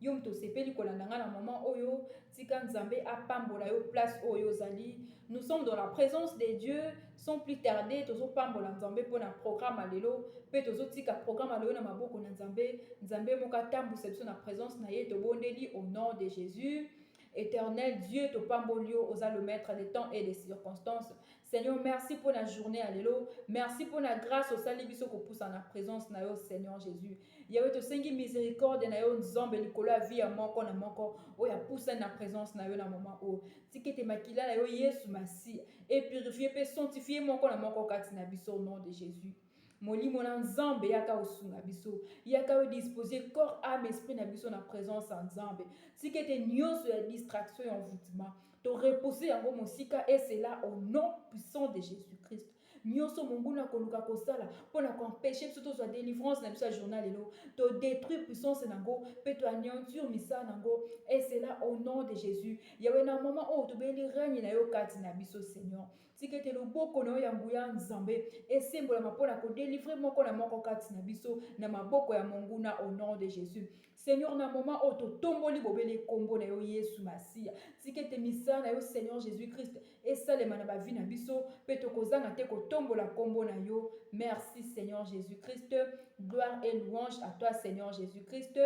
Yo moto osepeli kolanda nga na moment oyo, tika Nzambe apambola yo place oyo ozali. Nous sommes dans la présence de Dieu, sans plus tarder tozopambola Nzambe mpo na programme ya lelo mpe tozotika programme ya lelo na maboko na Nzambe. Nzambe moko atambwisa biso na présence na ye, tobondeli au nom de Jésus. Éternel Dieu, topamboli yo, oza le maître des temps et des circonstances. Seigneur, merci pour la journée à l'élo. Merci pour la grâce au salut biso ko poussa na présence na yo Seigneur Jésus. Yahweh to sengi miséricorde na yo nzambe likolo ya vie ya moko na moko oyo ya poussa na présence na yo na moment oyo. Tikete makila na yo Yesu Masi et purifier pe sanctifier moko na moko kati na biso au nom de Jésus. molimo na nzambe yaka osunga biso yaka odispose corps ame esprit na biso na présence ya nzambe tika ete nyonso ya distraction ya envoutement To repousser yango mosika et cela au nom puissant de Jésus-Christ. Nyoso monguna akoluka kosala mpo na koempeshe biso tozwa delivrance na biso ya journal lelo todétruire puissance na yango mpe toanéantir misala na yango et cela au nom de jésus yawe na mama oyo tobeli règne na yo kati na biso seigneur tika ete loboko na yo ya nguya nzambe esembolama mpo na kodelivre moko na moko kati na biso na maboko ya monguna au nom de jésus Seigneur na moment oyo totomboli bobele nkombo na yo Yesu Masiya. Tika ete misala na yo Seigneur Jesus Christ esalema na bavi na biso mpe tokozanga te kotombola nkombo na yo. Merci Seigneur Jesus Christ. Gloire et louange à toi Seigneur Jesus Christ.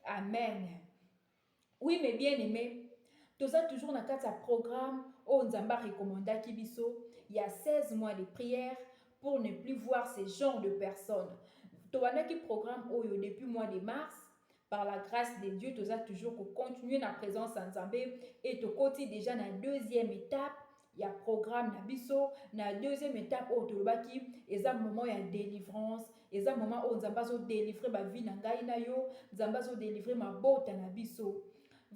Amen. Oui mes bien-aimés, toza toujours na kati ya programme oyo Nzambe arekomandaki biso ya 16 mois de prière pour ne plus voir ce genre de personnes. Tobandaki programme oyo depuis mois de mars. Par la grâce de Dieu, toza toujours ko continuer na présence ya Nzambe et tokoti déjà na deuxième étape ya programme na biso na deuxième étape oyo tolobaki eza moment ya délivrance eza moment oyo nzambe azodelivre bavie na ngai na yo nzambe azodelivre mabota na biso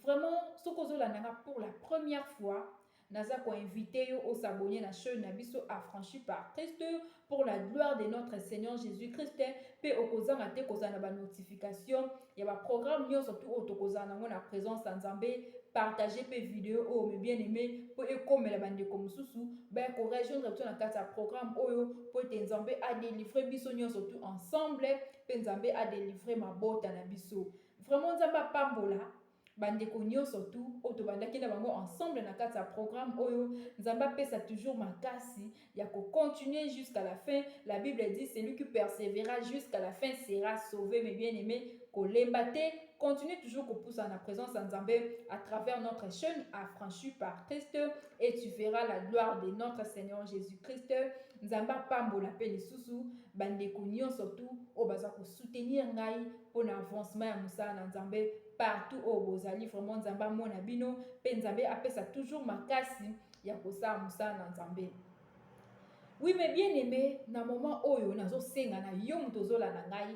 vraiment soki ozolanda nga pour la première fois Naza ko inviter yo o s'abonner na chaine na biso Affranchi par Christ pour la gloire de notre Seigneur Jesus Christ pe okozanga te kozala na ba notification ya ba programme nyonso tu oyo tokozala nango na presence ya Nzambe partager pe video oyo mes bien aimé po ekomela ba ndeko mosusu baya ko rejoindre biso na kati ya programme oyo po ete Nzambe a délivrer biso nyonso tu ensemble pe Nzambe a délivrer mabota na biso vraiment Nzambe apambola Ba ndeko nionso tout oyo tobandaki na bango ensemble na kati ya programme oyo, Nzambe apesa toujours makasi ya ko continuer jusqu'à la fin, la bible dit celui qui persevera jusqu'à la fin sera sauve, mes bien aime kolemba te, continuer toujours kopusana na presence ya Nzambe à travers notre chaine affranchie par Christ et tu verras la gloire de notre Seigneur Jesus Christ. Nzambe apambola pe lisusu ba ndeko nionso tout oyo baza ko soutenir ngai pona avancement ya mosala na Nzambe partout oyo bozali vraiment Nzambe amona bino pe Nzambe apesa toujours makasi ya kosala mosala na Nzambe. Oui mais bien aime na moment oyo nazo senga na yo moto ozolanda ngai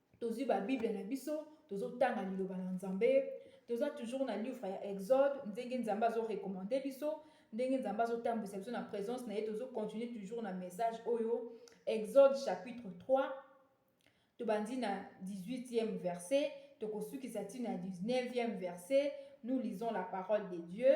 tozwi ba Bible na biso, tozo tanga liloba na Nzambe, toza toujours na livre ya Exode, ndenge Nzambe azo recommander biso, ndenge Nzambe azo tambwisa biso na presence na ye, tozo continuer toujours na message oyo Exode chapitre 3 tobandi na 18e verset tokosukisa ntina ya 19e verset nous lisons la parole de Dieu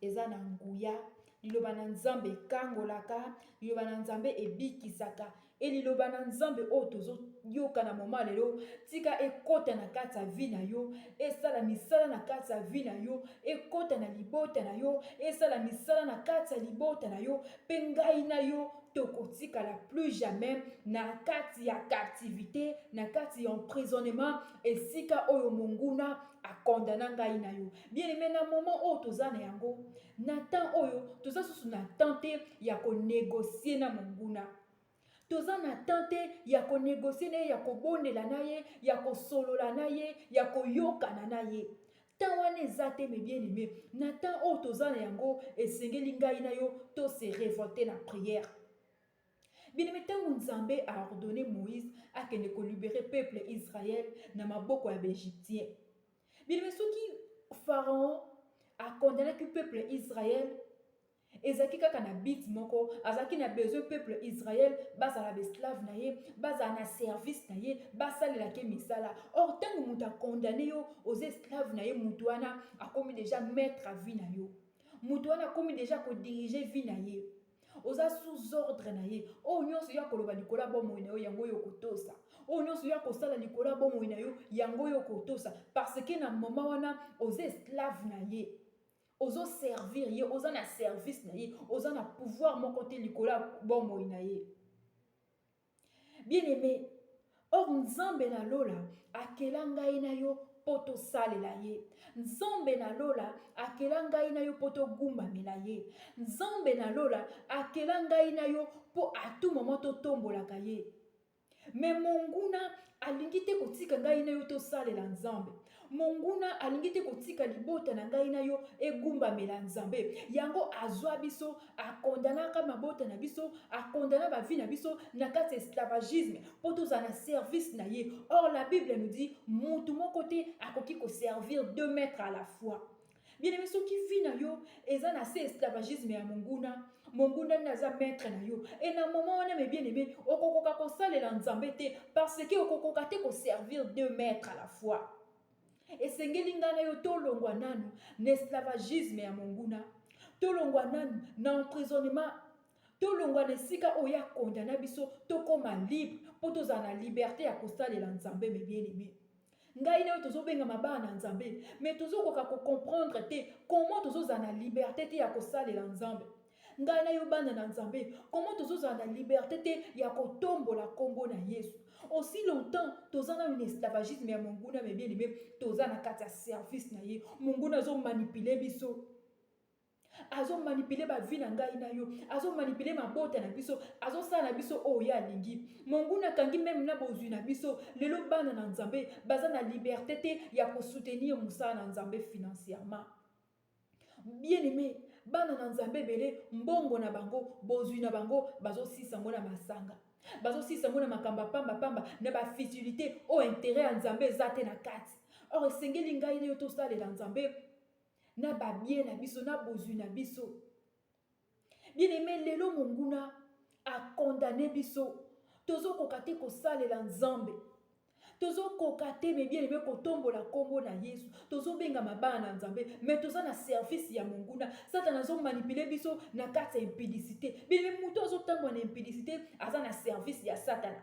Eza na nguya. Liloba na Nzambe ekangolaka. Liloba na Nzambe ebikisaka. E liloba na Nzambe oyo tozo yoka na moma lelo, tika ekota na kati ya vi na yo, esala misala na kati ya vi na yo, ekota na libota na yo, esala misala na kati ya libota na yo, pe ngai na yo tokotikala plus jamais na kati ya captivité na kati ya emprisonnement esika oyo monguna akondana ngai na yo Bien aimé, na moment oyo toza na yango, na temps oyo toza susu na temps te ya ko négocier na monguna. Toza na temps te ya ko négocier na ye, ya kobondela na ye, ya kosolola na ye, ya koyokana na ye. Temps wana eza te mes bien aimé. Na temps oyo toza na yango, esengeli ngai na yo to se révolter na prière. Bien-aimé, ntango Nzambe a ordonné Moïse akende ko libérer peuple Israël na maboko ya ba Egyptiens. Bien soki Pharaon a condamnaki peuple Israël ezalaki kaka na bit moko azalaki na besoin peuple israel bazala baesclave na ye bazala na service na ye basalela ke misala or ntango moto akondane yo oza esclave na ye moto wana akomi deja maître a vie na yo moto wana akomi deja kodirige vie na ye oza sous ordre na ye oyo nyonso yo akoloba likolo ya bomoi na yo yango oyo okotosa oyo nyonso yo akosala likolo ya bomoi na yo yango oyo okotosa parce que na moma wana oza esclave na ye ozoservir ye oza na service na ye oza na pouvoir moko te likolo ya bomoi na ye Bien aime, or Nzambe na lola akela ngai na yo mpo tosalela ye nzambe na lola akela ngai na yo mpo togumbamela ye nzambe na lola akela ngai na yo mpo atu mama totombolaka ye me monguna alingi te kotika ngai na yo tosalela nzambe Monguna alingi te kotika libota na ngai na yo egumbamela Nzambe. Yango azwa biso, akondanaka mabota na biso, akondana bavi na biso na kati ya esclavagisme mpo tozala na service na ye. Or la Bible nous dit mutu moko te akoki koservir deux maîtres à la fois. bien-aime soki vie na yo eza na se esclavagisme ya monguna monguna nde aza maître na yo e na moment wana me bien-aime okokoka kosalela nzambe te parce que okokoka te koservir deux maître à la fois esengeli ngai na yo tolongwa nanu na esclavagisme ya monguna tolongwa nanu na emprisonnement tolongwa na esika oyo ya kondana biso tokóma libre mpo tozala na liberté ya kosalela nzambe me bien-aime ngai nayo tozobengama bana na nzambe mais tozokoka kocomprendre te comment tozozala na liberté te ya kosalela nzambe ngai na yo bana na nzambe comment tozozala na liberté te ya kotombola nkombo na yesu aussi longtemps toza nanu na esclavagisme ya monguna mebienime toza na kati ya service na ye monguna azomanipule biso azo manipule bavi na ngai na yo azo manipule mabota na biso azosala na biso oyo ye alingi monguna akangi meme na bozwi na biso lelo bana na nzambe baza na liberte te ya kosoutenir mosala na nzambe financièrement bien aimé bana na nzambe ebele mbongo na bango bozwi na bango bazosisa yango na masanga bazosisa yango na makambo ya pambapamba na bafutilité oyo intere ya nzambe eza te na kati or esengeli ngai na yo tosalela nzambe na babie na biso na bozwi na biso bien aime lelo monguna akondane biso tozokoka te kosalela nzambe tozokoka te me bien aime kotombola nkombo na yesu tozobengama bana na nzambe me toza na service ya monguna satana azomanipule biso na kati ya impidicité bien aime moto azotambwa na impidicité aza na service ya satana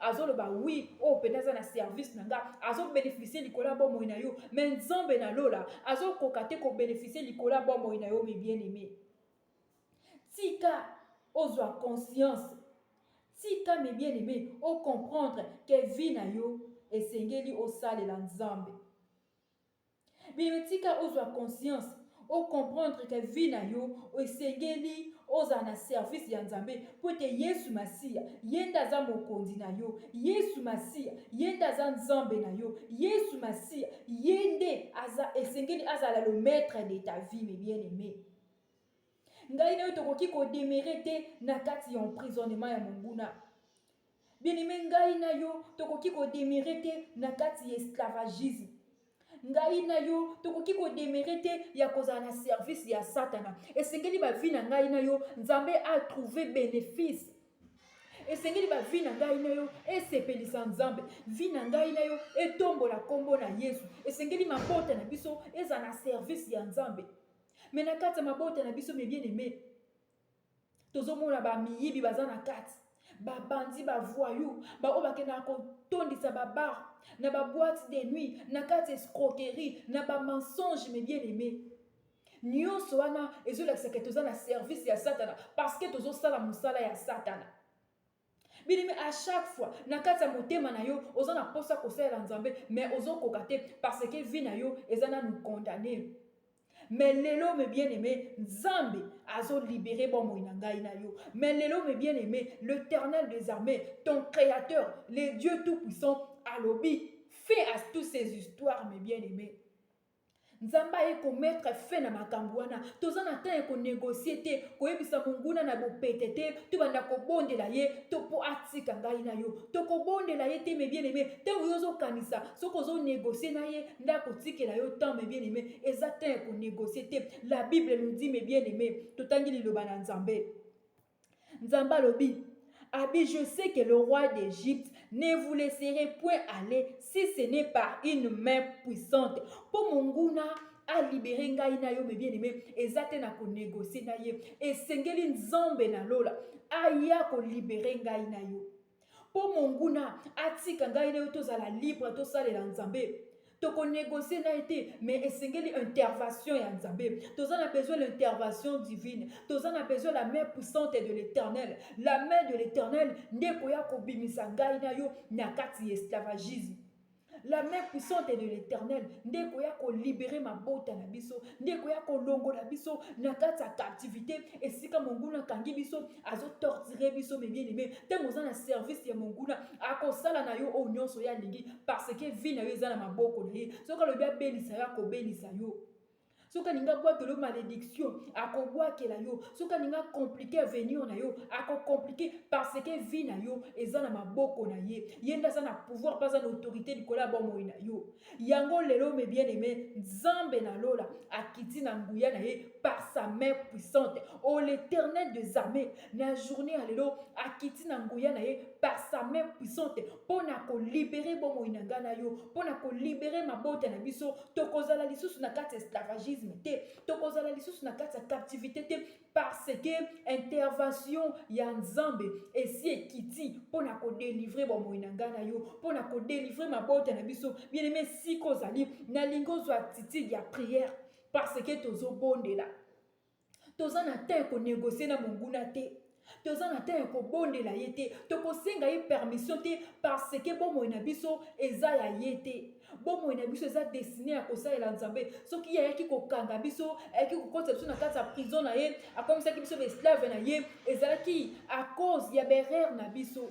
azoloba wi oyo mpenza aza na service na nga azobenefisie likolo ya bomoi na yo me nzambe na lola azokoka te kobenefisie likolo ya bomoi na yo me bien aime tika ozwa conscience tika me bien aime ocomprendre ke vie na yo esengeli osalela nzambe Bebe tika ozwa conscience o comprendre que vie na yo esengeli ozala na service ya Nzambe mpo ete Yesu Masiya ye nde aza mokonzi na yo, Yesu Masiya ye nde aza Nzambe na yo, Yesu Masiya ye nde aza esengeli azala le maitre de ta vie mes bien aime. Ngai na yo tokoki ko demeurer te na kati ya emprisonnement ya monguna. Bien-aimé, ngai na yo tokoki kodemere te na kati ya esclavagisme. ngai na yo tokoki kodemere te ya kozala na service ya satana esengeli bavi na ngai na yo nzambe atrouve bénéfice esengeli bavi na ngai na yo esepelisa nzambe vi na ngai na yo etombola nkombo na yesu esengeli mabota na biso ezala na service ya nzambe me na kati ya mabota na biso mebien aime tozomona bamiyibi baza na kati babandi bavoyou baoyo bakendaka kotondisa babar na baboite de nuit na kati escroquerie na bamensonge me bien aime nyonso wana ezolakisa ke toza na service ya satana parceke tozosala mosala ya satana Bien-aime, à chaque fois, na kati ya motema na yo, oza na posa kosalela Nzambe, mais ozo koka te parce que vie na yo eza nanu condamne. Mais lelo mes bien-aimés, Nzambe azo libérer bomoi na ngai na yo. Mais lelo mes bien-aimés, l'Éternel des armées, ton créateur, le Dieu tout-puissant alobi fin à toutes ces histoires mes bien-aimés. Nzambe aye ko mettre fin na makambu wana. Toza na temps ya ko negocier te, koyebisa monguna na bopete te, tobanda kobondela ye to po atika ngai na yo. Tokobondela ye te mes bien aime, tango yo ozo kanisa soki ozo negocier na ye nde akotikela yo temps mes bien aime, eza temps ya ko negocier te. La bible nous dit mes bien aime, totangi liloba na Nzambe. Nzambe alobi, Abi, je sais que le roi d'Egypte ne vous laisserait point aller si ce n'est par une main puissante. Pour mon gouna, a libéré ngai na yo mes bien aimé eza te na ko négocier na ye esengeli nzambe na lola aya ko libérer ngai na yo Mpo monguna atika ngai na yo tozala libre, tosalela Nzambe. Toko negocier na ye te, mais esengeli intervention ya Nzambe. Toza na besoin l'intervention divine. Toza na besoin la main puissante de l'Éternel. La main de l'Éternel nde ekoya kobimisa ngai na yo na kati ya esclavagisme. la main puissante de l'éternel nde ekoya kolibere mabota na biso nde ekoya kolongola biso na kati ya captivité esika monguna akangi biso azotortire biso mebieneme ntango oza na service ya monguna akosala na yo oyo nyonso ye alingi parce que vie na yo eza na maboko na ye soki alobi abelisa yo akobelisa yo soki alingi abwakela yo malédiction akobwakela yo soki alingi akomplike avenir na yo akokomplike parce que vie na yo eza na maboko na ye ye nde aza na pouvoir mpe aza na autorité likolo ya bomoi na yo yango lelo me bien aime nzambe na lola akiti na nguya na ye par sa main puissante o oh, l'éternel des armées na journée ya lelo akiti na nguya na ye par sa main puissante mpo na kolibere bomoi na ngai na yo mpo na kolibere mabota na biso tokozala lisusu na kati ya esclavagisme te tokozala lisusu na kati ya captivité te parce que intervention ya nzambe esi ekiti mpo na kodelivre bomoi na ngai na yo mpo na kodelivre mabota na biso bieneme sika ozali nalingi ozwa attitude ya prière parce que tozobondela toza na temps ya konegocie na monguna te toza na temps ya kobondela ye te tokosenga ye permission te parce que bomoi na biso eza ya ye te bomoi na biso eza destine ya kosalela nzambe soki ye ayaki kokanga biso ayaki kokotisa biso na kati ya prison na ye akomisaki biso baesclave na ye ezalaki à cause ya berere na biso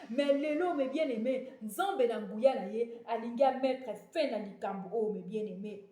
mais lelo me bien aime nzambe na nguya na ye alingi amettre fin na likambo oyo me bien aime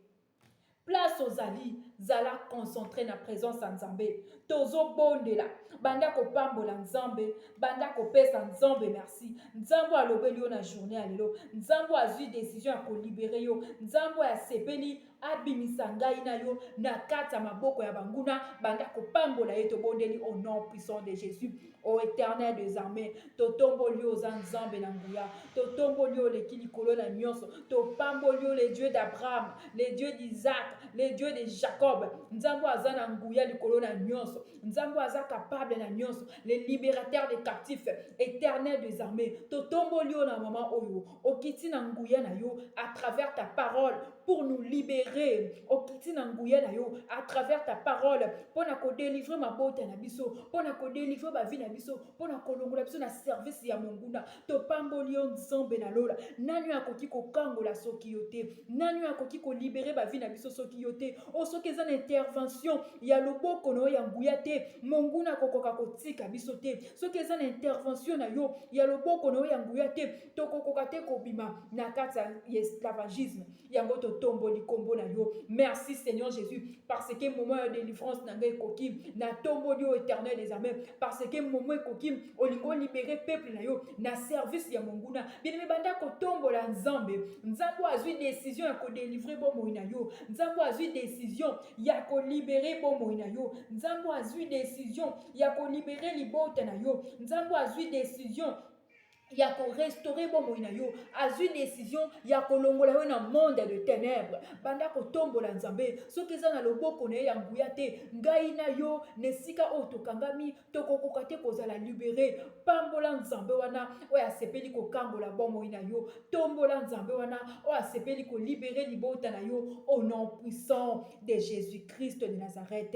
Place ozali, zala concentre na presence ya Nzambe. Tozobondela, banda kopambola Nzambe, banda kopesa Nzambe merci. Nzambe alobeli yo na journée ya lelo, Nzambe azwi decision ya kolibere yo, Nzambe asepeli abimisa ngai na yo na kati ya maboko ya banguna, banda kopambola ye. Tobondeli au nom puissant de Jésus. O Eternel des armées, totomboli yo oza Nzambe na nguya, totomboli yo oleki likolo na nyonso, topamboli yo le Dieu d'Abraham, le Dieu d'Isaac, le Dieu de Jacob. Nzambe aza na nguya likolo na nyonso, Nzambe aza capable na nyonso, le libérateur des captifs, Eternel des armées, totomboli yo na mama oyo, Okiti na nguya na yo à travers ta parole pour nous libérer. Okiti na nguya na yo à travers ta parole pour na ko délivrer mabota na biso, pour na ko délivrer ba vie na biso, pour na kolongola biso na service ya monguna. Topamboli yo Nzambe na lola. Nani oyo akoki kokangola soki yo te? Nani oyo akoki ko libérer ba vie na biso soki yo te? O oh, soki eza na intervention ya loboko na yo ya nguya te, monguna akokoka kotika biso te. soki eza na intervention na yo ya loboko na yo ya nguya te tokokoka te kobima na kati ya esclavagisme yango totomboli nkombo na yo merci seigneur jésus parce que moment ya délivrance na ngai ekoki natomboli yo éternel des armées parce que moment ekoki olingi olibere peuple na yo na service ya monguna binemi banda kotombola nzambe nzambe oyo azwi décision ya kodelivre bomoi na yo nzambe oyo azwi décision ya kolibere bomoi na yo nzambe oyo azwi décision ya ko libere libota na yo nzambe azwi decision ya korestore bomoi na yo azwi desizio ya kolongola yo na monde de ténèbre banda kotombola nzambe soki eza na loboko na ye ya nguya te ngai na yo na esika oyo tokangami tokokoka te kozala libere pambola nzambe wana oyo asepeli kokangola bomoi na yo tombola nzambe wana oyo asepeli kolibere libota na yo au nom puissant de jésus christ de nazareth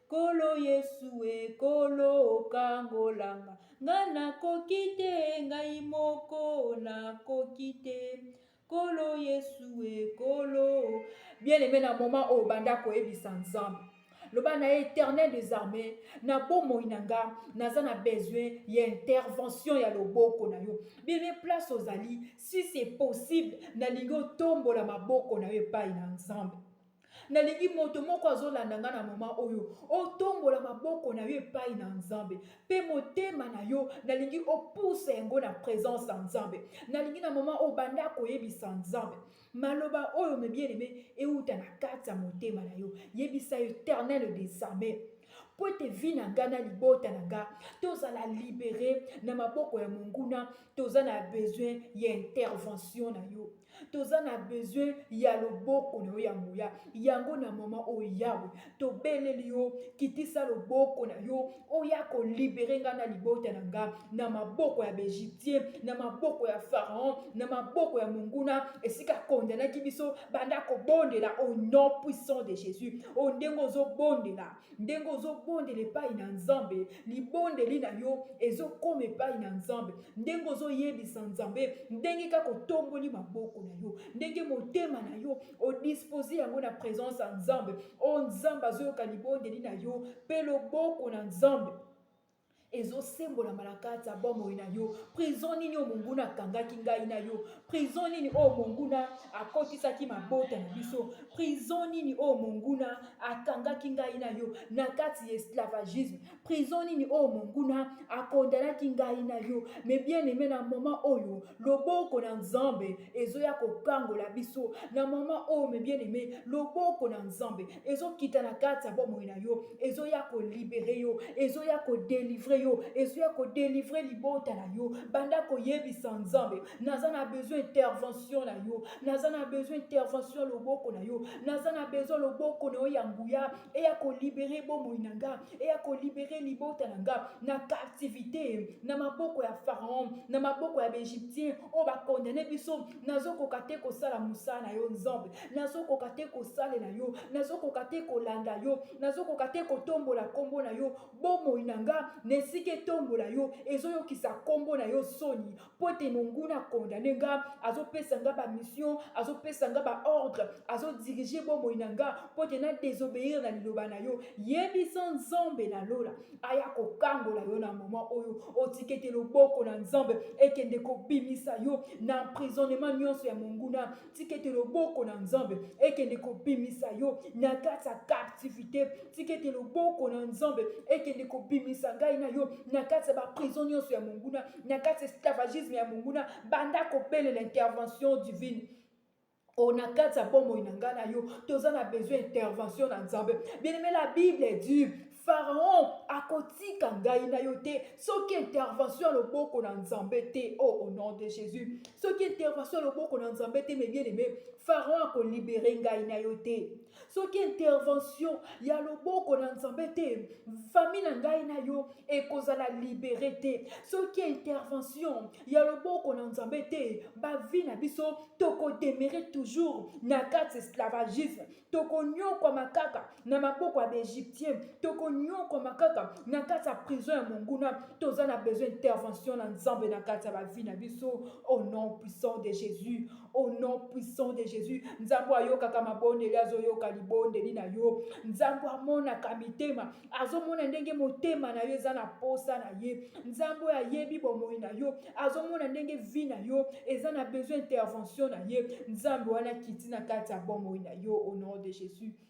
Nkolo Yesu e, Nkolo okangola nga, nga nakoki te, ngai moko nakoki te. Nkolo Yesu e, Nkolo. Bien aimé na moment oyo banda koyebisa Nzambe loba na ye éternel des armées na bomoi na nga naza na besoin ya intervention ya loboko na yo bebe place ozali si c'est possible nalingi otombola maboko na yo epai na nzambe Nalingi moto moko azolanda ngai na moma oyo otombola maboko na yo epai na Nzambe mpe motema na yo nalingi opusa yango na presence ya Nzambe. Nalingi na moma oyo banda koyebisa Nzambe maloba oyo mebieneme euta na kati ya motema na yo. Yebisa Eternel des armées mpo ete vi na ngai na libota na ngai tozala libere na maboko ya monguna. Toza na besoin ya intervention na yo. toza na besoin ya loboko na yo ya nguya yango na mama oyo yawe tobeleli yo kitisa loboko na yo oya kolibere ngai na libota na ngai na maboko ya baegyptien na maboko ya pharaon na maboko ya monguna esika kondanaki biso banda kobondela au nom puissant de jésus oyo ndenge ozobondela Ndenge ozobondela epai na Nzambe, libondeli na yo ezokoma epai na Nzambe. Ndenge ozoyebisa Nzambe, ndenge kaka otomboli maboko na yo, ndenge motema na yo odispose yango na presence ya Nzambe, o oh, Nzambe azoyoka libondeli na yo mpe loboko na Nzambe ezosembolama na kati ya bomoi na yo prison nini oyo monguna akangaki ngai na yo prison nini oyo monguna akotisaki mabota na biso prison nini oyo monguna akangaki ngai na yo na kati ya esclavagisme prison nini oyo monguna akondanaki ngai na yo me bien aime na moment oyo loboko na nzambe ezoya kokangola biso na mama oyo me bien aime loboko na nzambe ezokita na kati ya bomoi na yo ezoya kolibere yo ezoya kodelivre yo ezoya kodelivre libota na yo banda koyebisa nzambe naza na besoin intervention na yo naza na besoin intervention loboko na yo naza na besoin loboko na yo ya nguya eya kolibere bomoi na nga eya kolibere libota na nga na captivité na maboko ya pharaon na maboko ya baegyptien oyo bakondane biso nazokoka te kosala mosala na yo nzambe nazokoka te kosalela yo nazokoka te kolanda yo nazokoka te kotombola nkombo na yo bomoi na nga na esika etombola yo ezoyokisa nkombo na yo soni mpo ete monguna akondane nga azopesa nga bamission azopesa nga baordre azodirige bomoi na nga mpo ete nadesobeyire na liloba na yo yebisa nzambe na lola aya kokangola yo na moma oyo otiki ete loboko na nzambe ekende kobimisa yo na emprisonnement nyonso ya monguna tika ete loboko na nzambe ekende kobimisa yo na kati ya captivité tika ete loboko na nzambe ekende kobimisa ngai na yo na kati ya baprison nyonso ya monguna na kati ya esclavagisme ya monguna banda kobelela intervention divine oyo na kati ya bomoi na ngai na yo toza na besoin intervention na nzambe bien aime la bible dit Pharaon akotika ngai na yo te soki intervention ya loboko na nzambe te o oh, au nom de jésus soki intervention ya loboko na nzambe te mes bien aimé pharaon akolibere ngai na yo te soki intervention ya loboko na nzambe te fami na ngai na yo ekozala libere te soki intervention ya loboko na nzambe te bavi na biso tokodemere toujours na kati esclavagisme tokonyokwama kaka na maboko ya baegyptien tokonyokwama kaka na kati ya prison ya monguna toza na besoin intervention na nzambe na kati ya bavie na biso au nom puissant de jésus au nom puissant de jésus nzambe ayokaka mabondeli azoyoka libondeli na yo nzambe amonaka mitema azomona ndenge motema na yo eza na posa na ye nzambe oyo ayebi bomoi na yo azomona ndenge vi na yo eza na besoin intervention na ye nzambe wana akiti na kati ya bomoi na yo au nom de jésus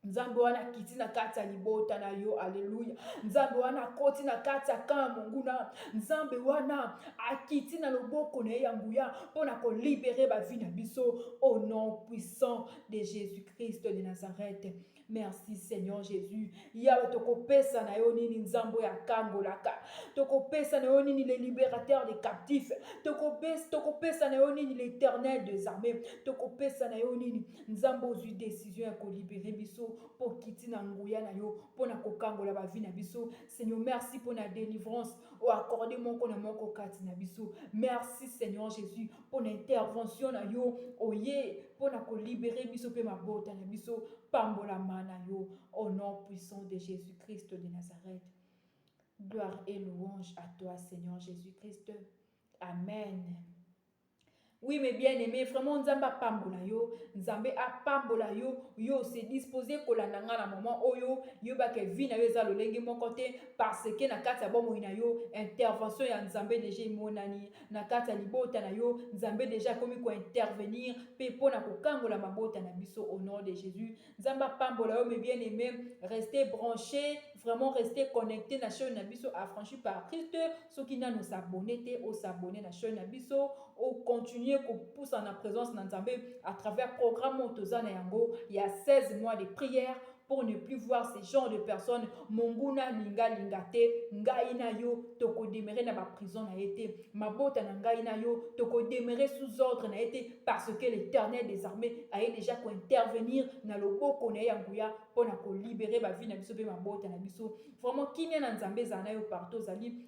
nzambe wana akiti na kati ya libota na yo aleluya nzambe wana akoti na kati ya kaa monguna nzambe wana akiti na loboko na ye ya nguya mpo na kolibere bavi na biso au nom puissant de jésus christ de nazareth Merci Seigneur Jésus. Yahweh tokopesa na yo nini nzambo ya kangolaka. Tokopesa na yo nini le libérateur des captifs. Tokopesa tokopesa na yo nini l'éternel des armées. Tokopesa na yo nini nzambo ozui décision ya kolibere biso mpo kiti na nguya na yo mpo na kokangola bavi na biso. Seigneur merci mpo na délivrance oyo accorde moko na moko kati na biso. Merci Seigneur Jésus. pona intervention na yo oye pona ko libere biso mpe mabota na biso pambolama na yo au nom puissant de jésus christ de nazareth gloire et louange à toi seigneur jésus christ amen Oui, mes bien-aimés, vraiment, Nzamba pambola yo. Nzambe a pambola yo. Yo, se disposé kolanda nga na moment oyo. Yo ba ke vie na yo eza lolenge moko te. Parce que na kati ya bomoi na yo, intervention ya Nzambe deja emonani. na kati ya libota na yo nzambe deja akomi kointervenir mpe mpo na kokangola mabota na biso au nom de jésus nzambe apambola yo mes bien aimé reste branché vraiment reste connecté na chaîne na biso affranchi par christ soki nano osabone te osabone na chaîne na biso ocontinue kopusa na présence na nzambe à travers programme oyo toza na yango ya 16 mois de prière pour ne plus voir ce genre de personne monguna linga linga te ngai na yo tokodemere na baprison na ye te mabota na ngai na yo tokodemere sous ordre na ye te parce que l'éternel des armées aye déjà kointervenir na loboko na ye ya nguya mpo na kolibere bavi na biso mpe mabota na biso vraiment kimia na nzambe ezala na yo partout ozali